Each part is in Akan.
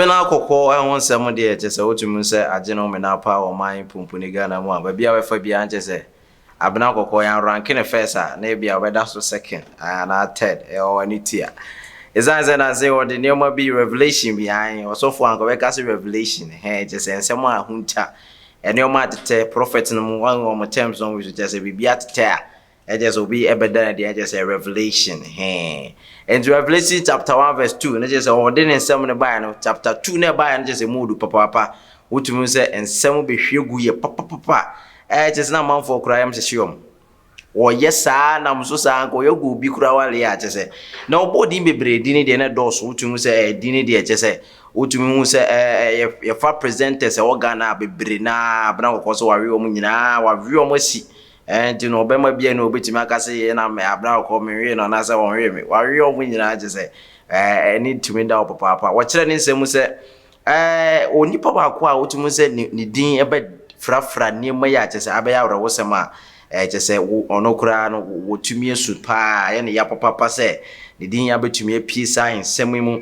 Mena kɔkɔɔ ho nsɛm deɛ kyɛ sɛ wotumi sɛ agye no mena paa wɔ ɔman pumpuni Ghana mu a baabi a wɛfa biara nkyɛ sɛ abena kɔkɔɔ yɛn ranke no first a na ebi a wɔbɛda so second anaa third ɛwɔ ne ti a ɛsiane sɛ nanse wɔde nneɛma bi revelation bi an ɔsɔfo anka wɔbɛka sɛ revelation hɛn kyɛ sɛ nsɛm a ho nta Nneɛma atetɛ, prophet no mu wɔn wɔn terms wɔn use kyerɛ sɛ biribi atetɛ a ɛkyerɛ sɛ obi ɛbɛda no adi ɛkyerɛ sɛ revelation hɛn nti revelation chapter one verse two ne kyerɛ sɛ ɔde ne nsɛm no baeɛ no chapter two na ɛbaeɛ no kyerɛ sɛ mu odu papaapa wotumi sɛ nsɛm bɛhwie gu yɛ papapapa ɛkyerɛ sɛ na amanfoɔ koraa yɛm hyehye wɔn Wɔyɛ saa nam so saa anka ɔyɛ goal bi koraa wale a kyɛsɛ na ɔbɔ din bebree din no deɛ na ɛdɔɔso wotumi hu sɛ ɛɛ din no deɛ kyɛsɛ wotumi hu sɛ ɛɛ yɛfa presenters ɛwɔ Ghana a bebree na abena kɔkɔɔ so wawe wɔn nyinaa wawe wɔn asi ɛɛ nti no ɔbɛma bi a na obetumi aka sɛ yɛ na abena kɔkɔɔ menwe no anaasɛ wɔnwe me wawe wɔn nyinaa kyɛsɛ ɛɛ ɛni tumi da hɔ papaapa wɔkyerɛ ne nsɛm mu sɛ Ɛɛ, onipa baako a wotumi sɛ ne ne din bɛfrafra nneɛma yi a kyerɛ sɛ abɛyɛ awerɛhosɛm a ɛɛ kyerɛ sɛ wo ɔno koraa no wɔtumi asu paa ayɛ no ya papapa sɛ ne din abɛtumi apue saa nsɛm yi mu.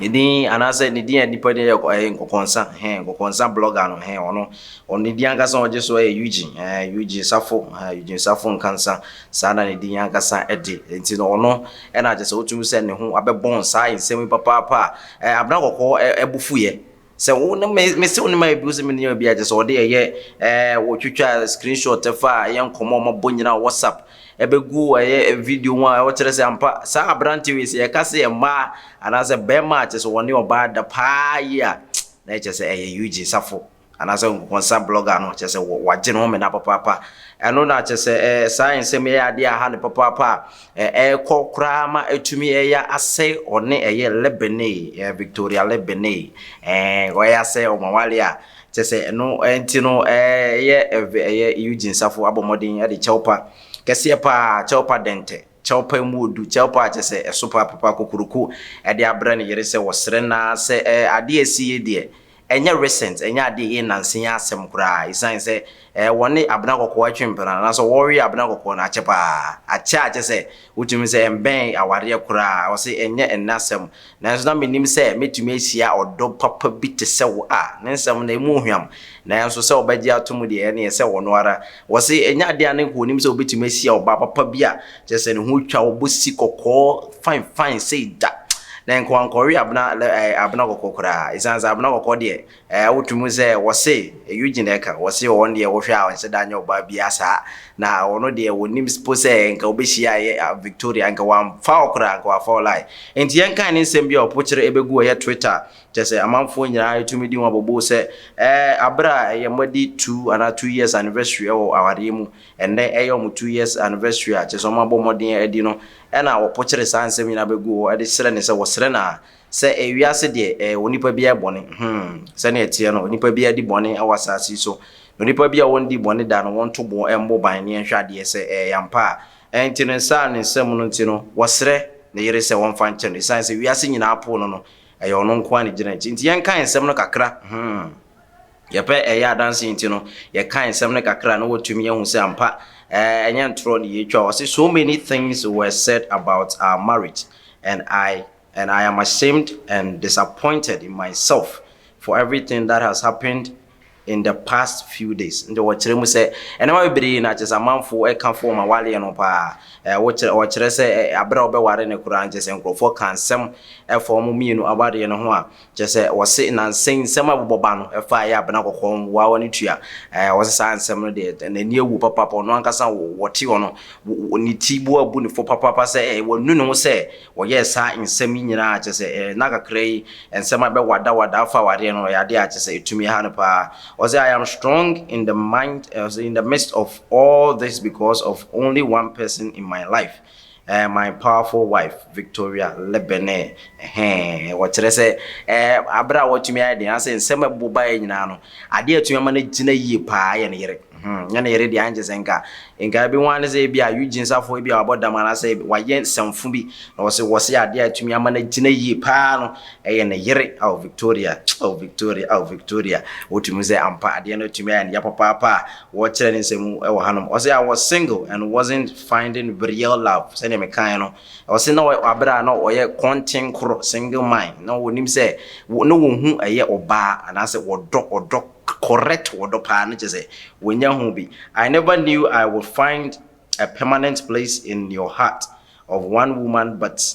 Ne din anaasɛ ne din a nnipa din yɛ ɛɛ nkɔkɔnsa hɛn nkɔkɔnsa blogger no hɛn ɔno ɔno ne din ankasa a ɔgye so yɛ Eugene ɛɛ eh, Eugene Safo ɛɛ eh, Eugene Safo Nkansa saa na ne din ankasa de nti no ɔno ɛna kyerɛ sɛ wotumi sɛ ne ho abɛbɔn saa nsɛm yi papaapa a Eh, Abena Kɔkɔɔ eh, eh, bo fuiɛ sɛ wo ne me me se wo ne ma ebi sɛ me ne obi agye sɛ ɔde ɛyɛ eh, wɔtwitwa screenshot ɛfa ɛyɛ nkɔmɔ ɔmo bɔ nyinaa wɔ whatsapp ɛbɛgu ɛyɛ eh, video ho a ɛwɔ kyerɛ sɛ ampa saa aberante wei sɛ yɛka sɛ yɛ mmaa anaasɛ bɛrima a kyɛ sɛ wɔne ɔbaa da paa yi a na ɛkyɛ sɛ ɛyɛ Eugene Safo anaasɛ nkɔnkɔnsa blogger no kyerɛ sɛ wagye ne ho mena papaapa ɛno na kyerɛ sɛ eh, saa nsɛm yɛ adeɛ aha ne papaapa a ɛrekɔ eh, koraa ma ɛtumi ɛyɛ eh, asɛ ɔne ɛyɛ lebene eh, victoria lebene eh, ɔyɛ asɛ ɔmawale a kyerɛ sɛ ɛno nti no ɛyɛ ɛyɛ eugene safo abɔ mmɔden de kyɛwpa kɛseɛ paa kyɛwpa dɛntɛ kyɛwpa mu odu kyɛwpa a kyerɛ sɛ ɛso paa papa kokoroko ɛde abrɛ ne yere sɛ wɔsrɛ naa sɛ ɛɛ adeɛ ɛsi yɛ deɛ Ɛnyɛ recent, ɛnyɛ adeɛ a ɛyɛ nansa yi asɛm koraa, ɛsiane sɛ ɛɛ wɔne abena kɔkɔɔ ɛtwe mpena no, anaasɛ wɔwe abena kɔkɔɔ no akyɛ paa, akyɛ a kyɛ sɛ wotumi hu sɛ ɛmbɛn awareɛ koraa, ɔse ɛnyɛ ɛnnɛ asɛm, nanso na menim sɛ mɛtumi ahyia ɔdɔ papa bi te sɛ wo a, ne nsɛm no ɛmu hwam, nanso sɛ ɔbɛgye ato mu deɛ ɛneɛ sɛ ɔno ara Wɔse ɛnyɛ adeɛ a ne nka ɔnim sɛ ɔbɛtumi ahyia ɔbaa papa bi a kyerɛ sɛ ne ho twa, ɔbɔ si kɔkɔɔ fine fine sei da. Na ɛnka wankɔwe abena ɛɛ abena kɔkɔɔ koraa ɛsiane sɛ abena kɔkɔɔ deɛ ɛɛ wotwe mu sɛ wɔse Eugene na ɛka wɔse wɔn deɛ wohwɛ a ɔnhyɛ da nyɛ ɔbaa biara saa na ɔno deɛ ɔnim mpo sɛ ɛnka ɔbɛhyiaeɛ Victoria ɛnka wamfa wo koraa ɛnka wafa wo lie. Nti yɛnkan ne nsɛm bi a ɔpokyere ɛbɛgu ɛyɛ Twitter Kyerɛ sɛ, amanfoɔ nyinaa retumi di ho abobo sɛ, Ɛɛ, aberɛ a ɛyɛ mo de two anaa two years anniversary wɔ awadeɛ mu, ɛnnɛ ɛyɛ wɔn two years anniversary a kyerɛ sɛ wɔabɔ mmɔden adi no, ɛna wɔpokyere saa nsɛm nyinaa bɛgu hɔ de srɛ no sɛ wɔsrɛ no a, sɛ ɛyɛ wiase deɛ, ɛɛ, onipa biara yɛ bɔne. Hmm, sɛdeɛ ɛteɛ no, onipa biara di bɔne wɔ asaase yi so, na onipa biara a ɔnndii bɔne da no, wɔnto bo mmɔ ban ne yɛnhwɛ adeɛ sɛ ɛyɛ ampa a. Ɛnti no, saa ne nsɛm no nti no, wɔsrɛ ne yere sɛ wɔmfa nkyɛ no, ɛsiane sɛ wiase nyinaa poo no no, Ɛyɛ ɔno nko ara na egyina akyi. Nti yɛnkae nsɛm no kakra. Hmm. Yɛpɛ ɛyɛ adanse nti no, yɛkae nsɛm no kakra na wɔatumi ahu sɛ ampa eh, ɛnyɛ ntorɔ na yɛretwa. Ɔse, So many things were said about our marriage and I and I am ashamed and disappointed in myself for everything that has happened in the past few days nti wɔkyerɛ mu sɛ nneɛma bebree yi na kyerɛ sɛ amanfoɔ ɛka fo wɔn awareɛ no paa ɛɛ wɔkyerɛ wɔkyerɛ sɛ ɛɛ abere a wɔbɛware no koraa nkyɛ sɛ nkurɔfoɔ ka nsɛm ɛfa wɔn mmienu awareɛ no ho a kyerɛ sɛ wɔse nansɛn nsɛm a bobɔ ba no ɛfa ɛyɛ abena kɔkɔɔ mmoawa no tua ɛɛ wɔse saa nsɛm no deɛ n'ani awu papaapa ɔno ankasa wɔte hɔ no ne ti boa bu ne fo papaapa sɛ ɛɛ wɔnu ne ho sɛ Wɔyɛɛ saa nsɛm yi nyinaa a, kyerɛ sɛ, ɛɛ, nna kakra yi, nsɛm a ɛbɛwadawada afa awareɛ no, ɛyɛ adeɛ a, kyerɛ sɛ, ɛtumi ha no pa ara. Ɔse, I am strong in the mind, ɛɛ, ɔse, in the midst of all this because of only one person in my life, ɛɛ, my powerful wife, Victoria Lebene, ɛhɛɛ, wɔkyerɛ sɛ, ɛɛ, aberɛ a watumi ayɛ den, anaasɛ nsɛm a ɛbobɔ baeɛ nyinaa no, adeɛ a atumi ama no agyina yie pa ara yɛ ne yere. Hmmm nyɛ ne yere deɛ ankyɛ sɛ nka nka ɛbɛhu ara ne sɛ ebia Eugene Sarfo ebia wabɔ dam anaasɛ wayɛ nsɛmfo bi na wɔse wɔse adeɛ a ɛtumi ama no agyina yie paa no ɛyɛ ne yere ao Victoria ao Victoria ao Victoria wotumi hu sɛ ampa adeɛ no atumi ayɛ no ya papaapa a wɔrekyerɛ ne nsɛm mu wɔ hanom ɔse I was single and wasn't finding real love sɛdeɛ mekaeɛ no ɔse na aberɛ a na ɔyɛ kɔntenkoro single mind na wɔnim sɛ na wɔhu ɛyɛ ɔbaa anaasɛ wɔdɔ ɔdɔ I correct wɔ dɔ paa no kyerɛ sɛ wanya ho bi I never knew I would find a permanent place in your heart of one woman but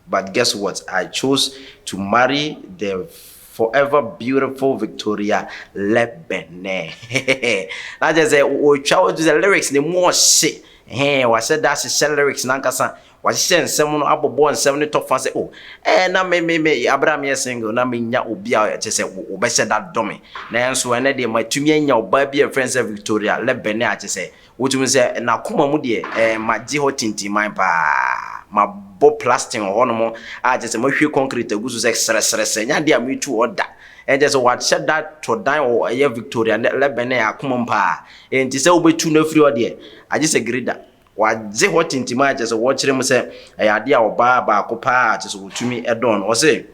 but guess what I chose to marry the forever beautiful Victoria Lebene hehe na kyerɛ sɛ ɔtwa wo sɛ lyrics no mu ɔhye hee wahyɛ da ahyehyɛ lyrics no ankasa Wɔahyehyɛ nsɛm no abobɔ nsɛm no tɔ fa sɛ, oh, ɛɛ, na me, me, me, bere a meyɛ single, na minnya obi a kyerɛ sɛ wɔbɛhyɛ da dɔ me. Nanso ɛnnɛ deɛ, matumi anya ɔbaa bi a wɔfrɛ no sɛ Victoria Lebene a kyerɛ sɛ, wotumi sɛ, n'akoma mu deɛ, ɛɛ, magye hɔ tintiman paa. Mabɔ plastin wɔ hɔnom a kyerɛ sɛ mahwie kɔnkret agu so sɛ srɛsrɛsrɛ. Ɛnyɛ adeɛ a metu hɔ da. Ɛnkyerɛ sɛ wɔahyɛ da tɔ dan wɔ ɛyɛ Victoria Lebene akoma mu paa. Enti sɛ wobɛtu no afiri hɔ deɛ, agye sɛ Gerida. Wɔagye hɔ tintim a kyerɛ sɛ wɔkyerɛ mu sɛ ɛyɛ ade a ɔbaa baako paa a kyerɛ sɛ wɔtumi dɔn no. Ɔse,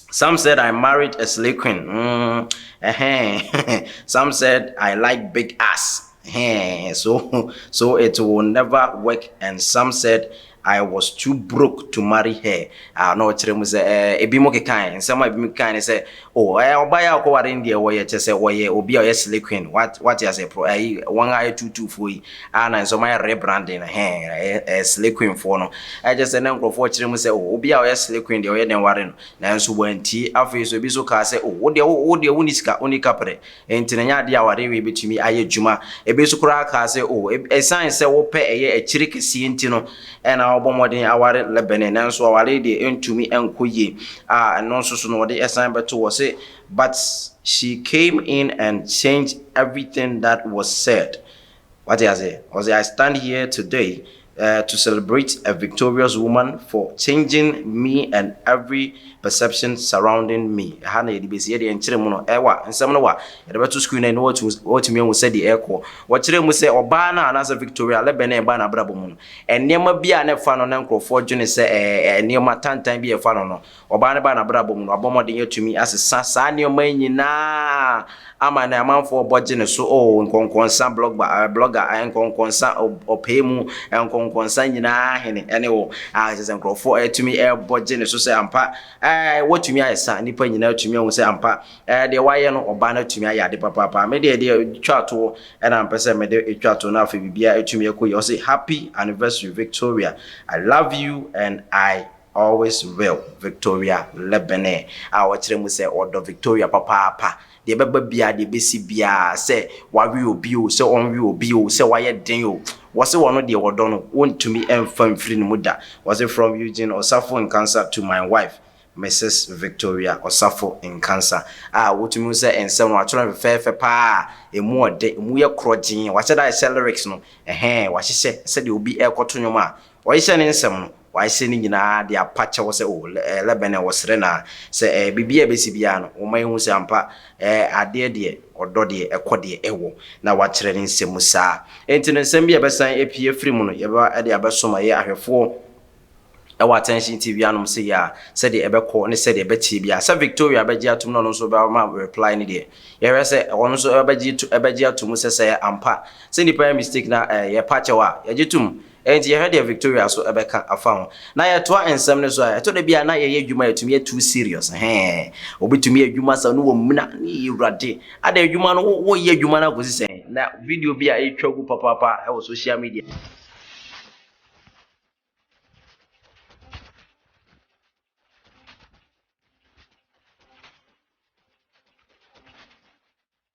Some said I married a slay queen, mm, eh-heh, some said I like big ass, eh-heh, so, so it will never work and some said I was too broke to marry her. Ah, na ɔkyerɛ mu sɛ, eh, ebinom kekae, nsɛm a ebinom kekae ne sɛ, Oh ɛɛ ɔbaa yi a ɔkɔ ware no deɛ wɔyɛ kyɛ sɛ wɔyɛ obi a ɔyɛ slay queen what wate aseɛ pro ɛyi wɔn a ɛyɛ tuutuu foɔ yi a na nsɛm ayɛ rebranding no hɛn ɛyɛ ɛyɛ slay queen foɔ no ɛkyɛ sɛ na nkorɔfoɔ kyerɛ mu sɛ oh obi a ɔyɛ slay queen deɛ ɔyɛ dɛn ware no nanso wɔantie afei nso ebi nso kaa sɛ oh wo deɛ wo wo deɛ wonni sika wonni kaprɛ Enti no, ɛnyɛ ade a wɔde wee betumi ayɛ adwuma. Ebi nso koraa kaa sɛ, O, esiane sɛ wopɛ ɛyɛ akyiri kɛseɛ nti no na wobɔ mmɔden aware Lebene, nanso aware yi deɛ ɛntumi nkɔ yie. A ɛno nso so no, wɔde san bɛto hɔ sɛ, But she came in and changed everything that was said. Wate aseɛ? Ɔse I stand here today eh to celebrate a victorious woman for changing me and every perception surrounding me. Ɛha na yɛde bɛsi. Yɛdeɛ nkyere mu no ɛwa. Nsɛm no wa. Yɛde bɛto screen no na watumi ahu sɛdeɛ ɛrekɔ. Wɔkyerɛɛ mu sɛ ɔbaa no a anaasɛ Victoria Leben a ɛbaa n'abrabɔ mu no, nneɛma bi a na ɛfa no na nkorɔfoɔ dwene sɛ ɛyɛ nneɛma tantan bi a ɛfa no no, Ɔbaa no baa n'abrabɔ mu no, wabɔ mmɔden atumi asesa saa nneɛma yi nyina ara ama nnɛ amanfoɔ rebɔ gye ne so, oh, nkɔnkɔnsa blogba, eh, blogger, eh, nkɔnkɔnsa ɔb, ɔpɛɛ mu, eh, nkɔnkɔnsa nyina ara hene, ɛne oh, ah, kyerɛ sɛ nkurɔfoɔ ɛretumi ɛrebɔ gye ne so sɛ ampa, eh, watumi ayɛ sa, nnipa nyina ara atumi ahu sɛ ampa, eh, deɛ wayɛ no, ɔbaa no atumi ayɛ ade papaapa. Me deɛ, deɛ twa toɔ ɛna mpɛ sɛ mede twa toɔ na afei biribiara atumi akɔ yie, ɔse, Happy anniversary Victoria, I love you and I Always Real, Victoria Lebene, a ɔkyerɛ mu sɛ ɔdɔ Victoria papaapa, deɛ ɛbɛba biara, deɛ ɛbɛsi biara, sɛ wawe obi o, sɛ ɔnwe obi o, sɛ wayɛ den o, wɔse ɔno deɛ ɔdɔ no, wɔntumi mfa mfiri ne mu da. Wɔse From Eugene Osafo Nkansah to my wife, Mrs. Victoria Osafo Nkansah, a wotumi hu sɛ nsɛm no wɔatwerɛ no fɛfɛɛfɛ pa ara, ɛmu ɔdɛ, ɛmu yɛ korɔgyee, wɔahyɛ da ahyehyɛ lyrics no, ɛhɛɛ, wɔahyehyɛ sɛdeɛ obi ɛrekɔto nnwom a Wɔahyehyɛ ne nsɛm no, wɔahyehyɛ ne nyinaa de apa kyɛw sɛ, O Lɛbɛn, ɛwɔ srɛ no ara, sɛ ɛyɛ biribi a ɛbɛsi biara no, woma yɛhu sɛ ampa adeɛ deɛ ɔdɔ deɛ ɛkɔ deɛ ɛwɔ, na woakyerɛ ne nsɛm mu saa. Enti no nsɛm bi a ɛbɛsan apue afiri mu no, yɛbɛba de abɛsom ɛyɛ ahwɛfoɔ wɔ Attention TV anom sei ara, sɛdeɛ ɛbɛkɔ ne sɛdeɛ ɛbɛteɛ biara. Sɛ Victoria bɛgye atom na ɔno nso bɛma reply no deɛ, yɛhwɛ sɛ ɔno nso ɛbɛgye ɛbɛgye atom sɛ sɛ ampa sɛ nnipa yɛ mistake na yɛpa kyɛw a, yɛgye tom. Enti yɛhwɛ deɛ Victoria nso bɛka afa ho. Na yɛtoa nsɛm no so a, ɛtɔ da bi a na yɛyɛ adwuma a ɛtumi yɛ too serious. Ɛhɛɛ, obi tumi yɛ adwuma saa no wɔmina, eii Awurade, adɛn adwuma no, wo woyɛ adwuma no akɔsi sɛn? Na video bi a ɛretwa gu papaapa wɔ social media.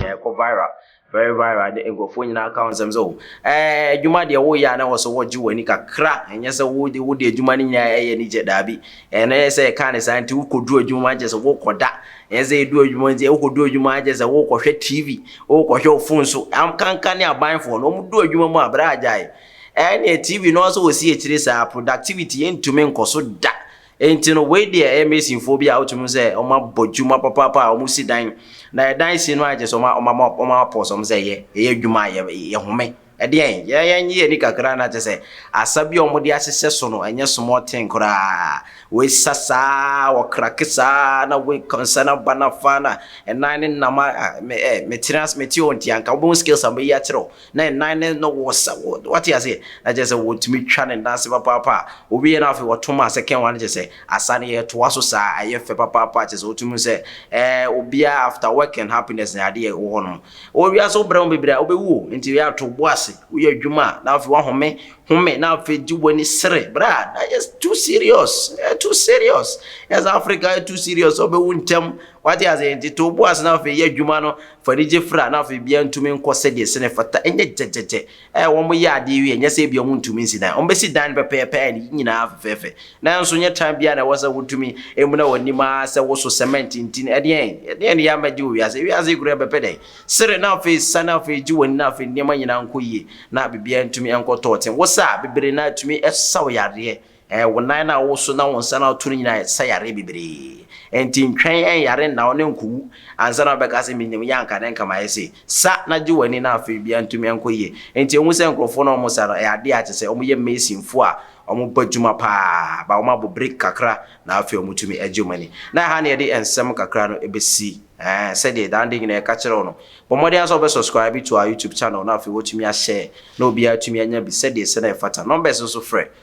Na ɛkɔ viral, very viral de nkurɔfoɔ nyinaa ka ho nsɛm sɛ oh ɛɛ adwuma deɛ woyɛ a na ɛwɔ sɛ wogye w'ani kakra, ɛnyɛ sɛ wo de wode adwuma no nyinaa ɛyɛ anigyeɛ, daabi. Ɛno ɛyɛ sɛ ɛka ne saa nti wokɔduru adwuma a kyerɛ sɛ wokɔda, ɛnyɛ sɛ ɛduru adwuma nti wokɔduru adwuma a kyerɛ sɛ wokɔhwɛ TV, wokɔhwɛ wo phone so, ankanka ne abanfoɔ no wɔdu adwuma mu a bra gyae ɛneɛ TV no ara sɛ wɔsi akyire saa, productivity yɛntumi nkɔ so da. Enti no, wei deɛ ɛyɛ masonfoɔ bi a wotumi hu sɛ wɔabɔ dwuma papaapa a wɔsi dan. Na yɛ dan si no ayɛ kyerɛ sɛ wɔama wɔama pause wɔn sɛ yɛ yɛyɛ adwuma a yɛ yɛhome. Ɛdeɛn? Yɛ yɛnye yɛn ani kakra na kyerɛ sɛ asa bi a wɔde ahyehyɛ so no ɛnyɛ small thing koraa. Wɔasa saa ara wɔkrake saa ara na wei nsa no aba no afa na ɛnan nenam a me eh metena ase mete hɔ nti anka wobɛhu skills a mɛyi akyerɛ wo. Na ɛnan no na wɔ sa wɔ wate aseɛ na kyerɛ sɛ wɔtumi twa ne nan ase papaapa a ɔwieɛ no afei wɔto ma second one no kyerɛ sɛ asa no yɛtoa so saa ɛyɛ fɛ papaapa kyerɛ sɛ wotumi hu sɛ ɛɛ obiara after work and happiness na adeɛ wɔ hɔ nom wɔ wiase wobrɛ ho bebree a wobɛwu o nti yɛ ato bo ase woyɛ adwuma a na afei woahome home na afei gye w'ani sere bra na yɛ too serious ɛ too serious yɛ sɛ Africa ɛ too serious ɔbɛwu ntɛm Wate aseɛ? Enti to wo bo ase na afei yɛ adwuma no, fa anigye fra, na afei biribiara ntumi nkɔ sɛdeɛ ɛsɛ na ɛfata. Ɛnyɛ gyɛgyɛgyɛ a wɔyɛ adeɛ wie, ɛnyɛ sɛ ebia wɔntumi nsi dan. Wɔbɛsi dan no pɛpɛɛpɛ a ne nyinaa fɛfɛɛfɛ. Nanso nyɛ tan biara na ɛwɔ sɛ wotumi muna w'anim ara sɛ woso sɛmɛnte nti no. Ɛdeɛn? Ɛdeɛn na yɛammɛgye wɔ wiase? Wiase yi koraa ɛbɛpɛ dɛn? Sere na afei sa na afei gye w'ani na afei nneɛma nyinaa nkɔ yie na biribiara ntumi nkɔ tɔɔten. Wosa a, bebree no ara ɛtumi sa wo yareɛ. Ɛɛ, wo nan no a woso na wo nsa no a woto no nyinaa sa yareɛ bebree. Enti ntwɛn ɛnyare nna wo na ɛnkɔwu ansa na wobɛka sɛ menim yɛ anka ne nka mayɛ sei. Sa na gye w'ani na afei biribiara ntumi nkɔ yie. Enti ɛhu sɛ nkurɔfoɔ no a wɔsa no, ɛyɛ adeɛ a kyerɛ sɛ wɔyɛ masonfoɔ a wɔbɔ adwuma pa ara, but wɔabɔ break kakra na afei wɔtumi gye wɔn ani. Na ɛha na yɛde nsɛm kakra no bɛsi, ɛɛ, sɛdeɛ daa adeɛ nyinaa yɛka kyerɛ wo no. Bɔ mmɔden ara sɛ wobɛ subscribe to our YouTube channel na afei woatumi a share na obiara atumi anya bi sɛdeɛ sɛ na ɛfata. Numbers nso frɛ.